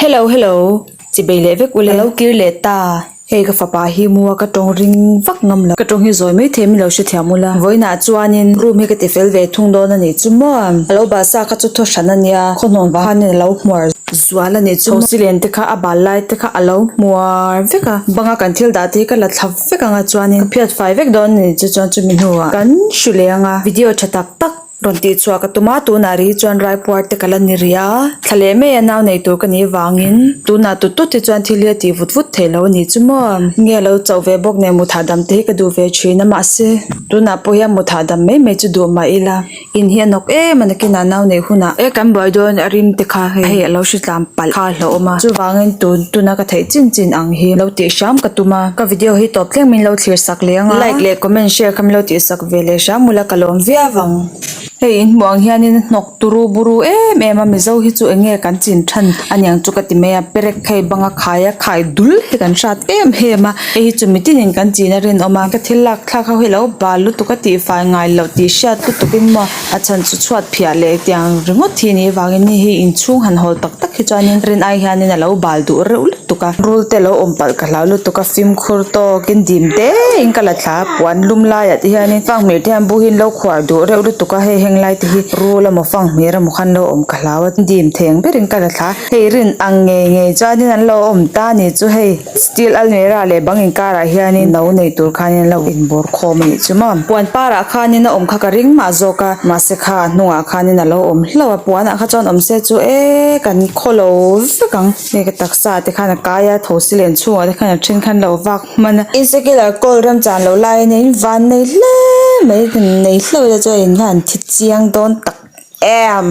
Hello hello chi bei leh vek uleh ka lo kir leh ta hei ka fapa hi mu a ka tawng ring vak ngam lo ka tawng hi zawi mai thei min lo hrethiam ula vawiinah chuanin room hi ka ti fel ve thung dawn a nih chu maw a lo bal sa kha chu thaw hran a nia khaw hnawn vang hian a lo hmuar zual a nih chu maw Chhosi len te kha a bal lai te kha a lo hmuar vek a bang a kan thil dah te hi ka la thlap vek ang a chuanin ka phiat fai vek dawn a nih chu chuan chumi hnua kan hrilei ang a video tha tak tak. Rawn tih chhuah ka tum a, tunah ri chuan raipuar te ka la ni ri a, thla leh mai a nau nei tur ka nih vangin tunah tut tut hi chuan thil hi a tih vut vut thei lo a ni chu maw, nge a lo chauh ve bawk nen mutthah dam te hi ka duh ve thin a, mahse tunah pawh hian mutthah dam mai mai chu duh mah ila in hi a nawk em a nakin a nau nei hunah e kan buai dawn a rim te kha hei a lo hre tlan palh kha a hlauhawm a, chuvangin tun tuna ka theih chin chin ang hi lo tih hram ka tum a, ka video hi tawp tlem min lo thlir sak leh anga like leh comment share kha min lo tih sak. veleh hrang ula ka lawm viau vang hei in hmuh ang hianin hnawk turu buru em em a mizo hi chu enge kan chin than aniang chu ka ti mai a perek phei banga khaia khai dul hi kan hrat em em a heihi chu mitin in kan china rinawm a ka thil lak thlak ho hi alo bal lutuk a tifai ngai loh tih hriat lutuk in maw a chhan chu chhuat phiah leh tiang ringawt hi a nih vangin hei hi inchhung han hawl tak tak hi chuanin rin ai hianin alo bal duh reuh reuh-- tuk a rul te lo awm palh ka hlau lutuk a fimkhur tawkin dim te in ka la thla a puan lum laiah te hianin fanghmeh te hian bu hi in lo khuar duh reuh lutuk a hei heng lai te hi rul emaw fanghmeh remaw khan lo awm ka hlau a dim theng berin ka la thla a hei rin ang ngei ngei chuanin an lo awm ta ni chu hei steel almirah leh bang inkarah hianin no nei tur khan in lo in bawr khawm a nih chu maw puan parah khanin a awm kha ka ring mah zawk a mahse kha a hnungah khanin a lo awm hlauh a puanah kha chuan awmse chu eee kan khaw lo vek ang. Hei ka taksa te khan a kai a tho si len chhungah te khan a then khan lo vak hman a. In cycle ah coal rem chan loh lai a nia in van nei hle mai nei hleuh te chuan in hian thi chiang dawn tak em.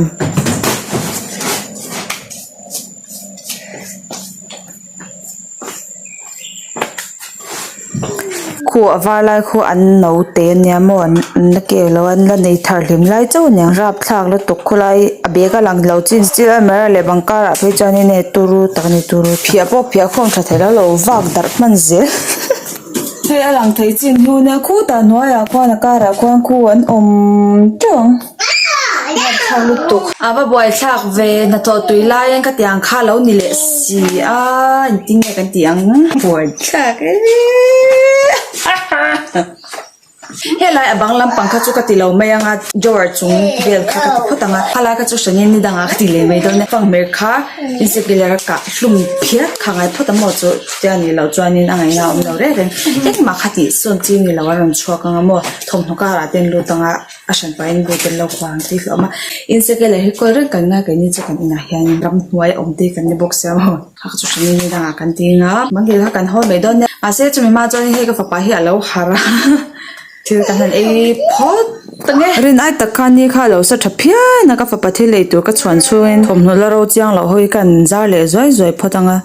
khu a var lai khuh an no te a nia maw an an la ke lo an la nei thar hlim lai chauh a niang rap thlak lutuk khuh lai a bag a lang lo chin stil a almera leh bang karah phei chuan in hei turu tak a ni turu phiah pawh phiah khawm tha theih lo lo vak darh hman zel hei a lang thei chin hnuna khut a hnuaiah khuan a karah khuan khu an awm teuh ang. A va buaithlak ve hnathawh tui lai ang ka ti ang kha lo ni leh si a engtin nge kan tih ang buaithlak e helai a bang lampang kha chu ka ti lo mai anga drawer chung vel kha ka ti phawt ang a a lai kha chu hrang in ni dang ah ka ti leh mai dawn e fang hmer kha insecure ka hlum phiat kha ngai phawt a maw chu chutiang a nih loh chuan in a ngaihna a awm lo reng reng engmah kha tih sawn chu ni lo a rawn chhuak ang a maw thawmhnaw karah te an lut ang a. a hran pahin in buai tel lo khuah ang tih a awm a in seke leh hi kawl reng kan ngai kan ni chu kan inah hian in ram hnuai a awm tih kan ni bawk si a maw kha chu hran in dangah kan ti anga mahni kha kan hawl mai dawn nia mahse chumi ma chuan hei ka fapa hi a lo har a thil ta hlan ei phawt ta nge rin ai tak khan ni kha a lo sa tha phian a ka fapa thil ei tur ka chhuan chhungin thawmhnaw la ro chiang loh ho hi khan zar leh zuai zuai phawt anga.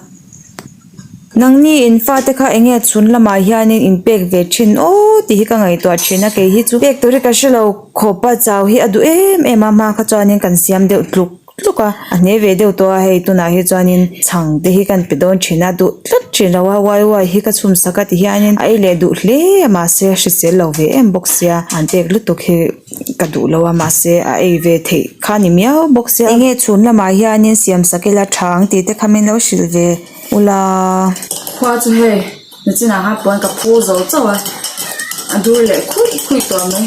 Nangni in fate kha eng nge chhun lamah hian in in pek ve thin aw tih hi ka ngaihtuah thin a kei hi chu pek tur hi ka hrelo khawpa chau hi a duh em em a hma kha chuan kan siam deuh tluk tluk a a hne ve deuh tawh a hei tunah hi chuan in chhang te hi kan pe dawn thin a duh tlat thin lo a uai uai hi ka chhum sak a ti hian in a ei leh duh hle a mahse hrisel lo ve em bawk sia an pek lutuk hi. Ka duh lo a mahse a ei ve theih kha ni miau bawk sia. Enge chhun lamah hianin siam sak ila tha ang tih te kha min lo hrilh ve ula. Khua chu hei na chin ah kha puan ka phu zo chauh a, a dur leh khuih khuih tawh mai.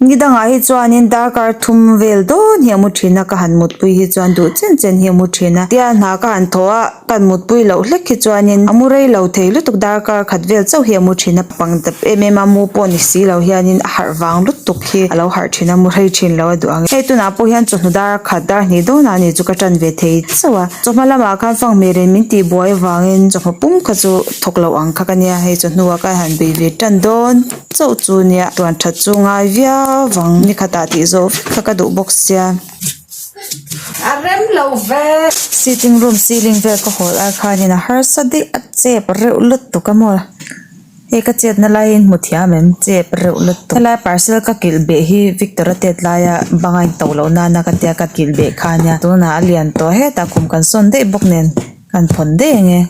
Ni dangah hi chuanin darkar thum vel dawn hi a mu thin a ka han mutpui hi chuan duh chen chen hi a mu thin a tialhnah ka han thawh a. Kan mutpui loh hlek khi chuanin a mu rei lo thei lutuk darkar khat vel chauh hi a mu thin a pang ta em em a mu pawh ni si lo hianin a harh vang lutuk khi a lo harh thin a mu rei thin lo a duh ang e hei tunah pawh hian chawhnu dar a khat dar hnih dawnah a nih chu ka tan ve thei chauh a chawhma lamah khan fanghmeirin min tih buai avangin chawhma pum kha chu thawk loh ang kha ka nia hei chawhnu ah khan han bei ve tan dawn chauh chu nia tuan that chu ngai viau vang ni khatah tih zawh vek kha ka duh bawk sia. sitting room ceiling vel ka haw lai khanin a harsa daih a chep reuh lutuk a maw hei ka chetna lai hi hmu thiam em chep reuh lutuk helai parcel ka kilh beh hi victor a tet laia banga in to loh nana ka tia ka kilh beh khan nia tunah a lian tawh hetah kum kan sawn daih bawk nen kan phawn daih ang e.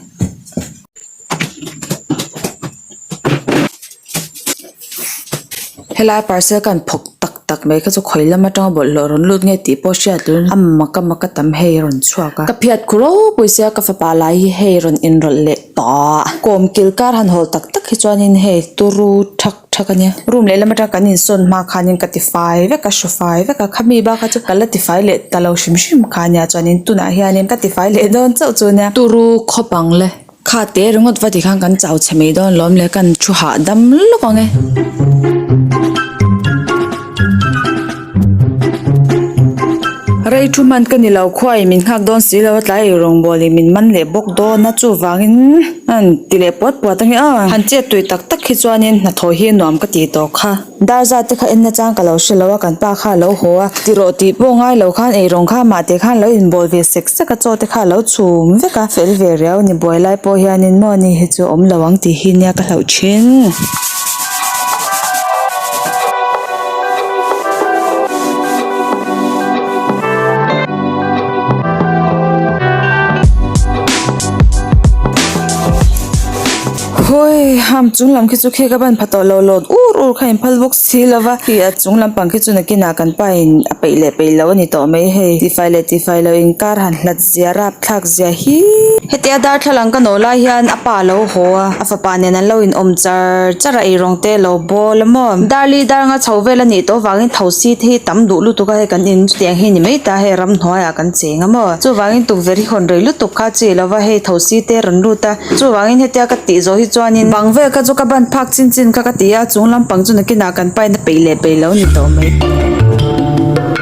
helai parcel khan phawk tak tak mai kha chu khawi lam atanga bawlh hlawh rawn lut nge tih pawh a hriat loh a maka maka tam hei a rawn chhuak a ka phiat khuh ro pui sia ka fapa lai hi hei rawn enrawlh leh tawh a kawm kilkar han hawl tak tak hi chuan in hei turu tha-- Tha ka nia, room lehlam atang kan insawn hma khanin ka tifai vek a, hre fai vek a, khami bakah chuan ka la tifai leh ta lo hrim hrim kha nia chuanin tunah hianin ka tifai leh dawn chauh chu nia. Turu khawp ang le, kha te ringawt va ti khan kan chau chhe mai dawn lawm le, kan thu hah dam lawk ang e. Rei thu man ka ni lo khua in min nghak dawn si lo a tlai erawng bual in min man leh bawk dawn a chuvang in an ti leh puat puat ang i a han chet tui tak tak hi chuan in hnathawh hi a nuam ka ti tawh kha dar zate kha en na chang ka lo hre lo a kan pa kha a lo haw a ti rawh tih pawh ngai lo khan erawng kha mah te khan a lo in bawl ve sek sek a chaw te kha a lo chhum vek a fel ve riau a ni buai lai pawh hian in maw ni hi chu awm lo ang tih hi nia ka hlauh thin. Hawi hum chung lam khi chu khe ka ban pha tawh lo lawt ur ur kha in phal bawk si lo va khi a chung lampang khi chu nakin ah kan pa in a peih leh peih lo a ni tawh mai hei tifai leh tifai lo inkar han hla chi-- zia rap thlak zia hi. Hetia darthlalang ka no lai hian a pa alo haw a, a fapa nen an lo in awm char char a, eirong te lo bawl a maw. Darli darnga chho vel a nih tawh vangin tho si te hi tam duh lutuk a, hei kan in chutiang ang hi ni mai ta hei ram hnuai ah kan cheng a maw. Chuvangin tukverh hi hawn rei lutuk kha chi lo va, hei tho si te rawn lut a, chuvangin hetia ka tih zawh hi chuanin bang vel kha chu ka ban phak chin chin kha ka ti a, chung lampang chu nakin ah kan paina peih leh peih lo ni tawh mai.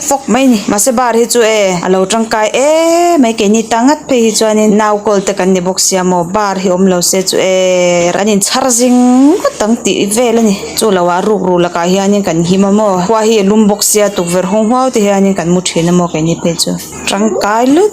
fawk mai a ni mahse bar hi chu e a lo tangkai emmm mai keini ta ngat phei hi chuan in nau kawl te kan ni bawk sia maw bar hi awm lo se chu eee an in chhar zing ngawt ang tih vel a ni chu lo ah ruk ruh lak ah hian in kan him a maw khua hi a lum bawk sia tukverh hawng hauh te hian in kan mu thin a maw keini phei chu tangkai lutt.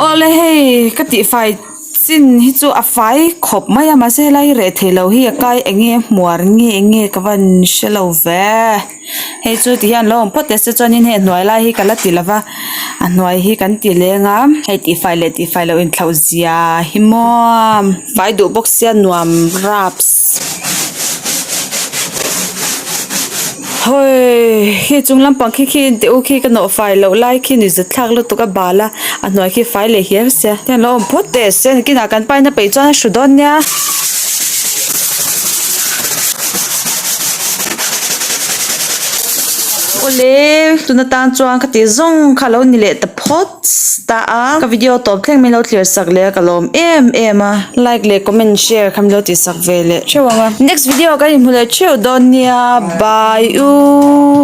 Awle hei ka tih fai chin hi chu a fai khawp mai a mahse lai reh theih loh hi a kai eng nge hmuar nge eng nge ka van hrelo ve. hei chu ti hian lo awm phawt leh se chuanin hei hnuai lai hi ka la ti lova a hnuai hi kan ti leng a hei tifai leh tifai lo inthlau zia hi maw fai duh bawk sia nuam raps hawii khi chung lampang khi khi te u khi ka nawh fai loh lai khi ni zet thlak lutuk a bal a a hnuai khi fai leh hial sia heng lo awm phawt leh se ni kinah kan paina peih chuan a hru dawn nia. awle tuna tan chuan ka tih zawng kha a lo ni leh ta phawt ta a ka video tawp thleng min lo thlir sak leh a ka lawm em em a like leh comment share kha min lo tih sak ve leh theuh ang a next video ah ka inhmu leh theuh dawn nia bye u.